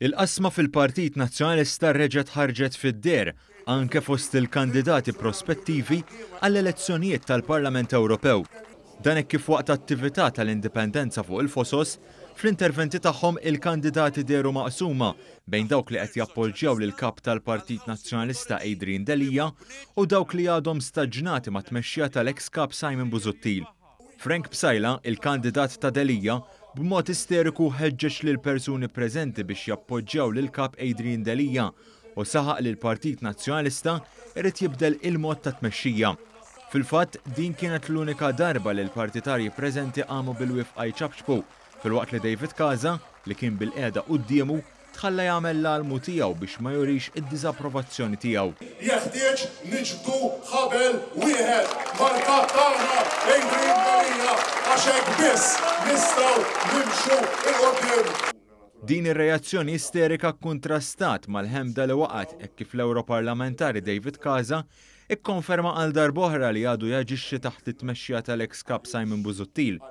Il-qasma fil-Partit Nazzjonalista reġgħet ħarġet fid-deher anke fost il-kandidati prospettivi għall-elezzjonijiet tal-Parlament Ewropew. Dan hekk kif waqt attività tal-Indipendenza fuq il-Fosos, fl-interventi tagħhom il-kandidati dehru maqsuma bejn dawk li qed jappoġġjaw lill-Kap tal-Partit Nazzjonalista Adrian Delia u dawk li għadhom staġnati mat-tmexxija tal-eks Kap Simon Busuttil. Frank Psaila, il-kandidat ta' Delia, b'mod isteriku ħeġġeġ lill-persuni preżenti biex jappoġġjaw lill-Kap Adrian Delia u saħaq li l-Partit Nazzjonalista jrid jibdel il-mod ta' tmexxija. Fil-fatt, din kienet l-unika darba li l-partitarji preżenti qamu bil-wifqa jċapċpu filwaqt li David Casa, li kien bilqiegħda quddiemu, Tħalla jagħmel l-almu tiegħu biex ma jurix id-diżapprovazzjoni tiegħu. Jeħtieġ niġbdu ħabel wieħed mal-Kap tagħna Adrian Delia għax hekk biss nistgħu nimxu 'l quddiem. Din ir-reazzjoni isterika kkuntrastat mal-ħemda li waqgħet hekk kif l-Ewroparlamentari David Casa Ikkonferma għal darb'oħra li għadu jaġixxi taħt it-tmexxija tal-eks Kap Simon Busuttil.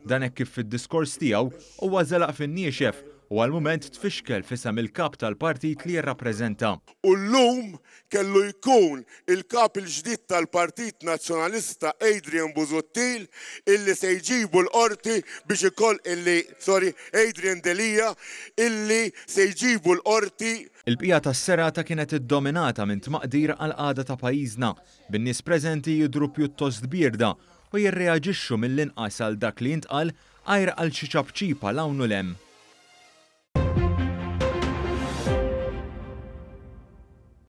Dan hekk kif fid-diskors tiegħu huwa żelaq fin-niexef u għall-mument tfixkel f'isem il-Kap tal-Partit li jirrappreżenta. U llum kellu jkun il-Kap il-ġdid tal-Partit Nazzjonalista Adrian Busuttil illi se jġibu l-Qorti biex ikoll illi sorry Adrian Delia illi se jġibu l-Qorti Il-bqija tas-serata kienet iddominata minn tmaqdir għall-qagħda ta' pajjiżna, bin-nies preżenti jidhru pjuttost bierda u jirreaġixxu mill-inqas għal dak li jintqal għajr għal xi ċapċipa 'l hawn u 'l hemm.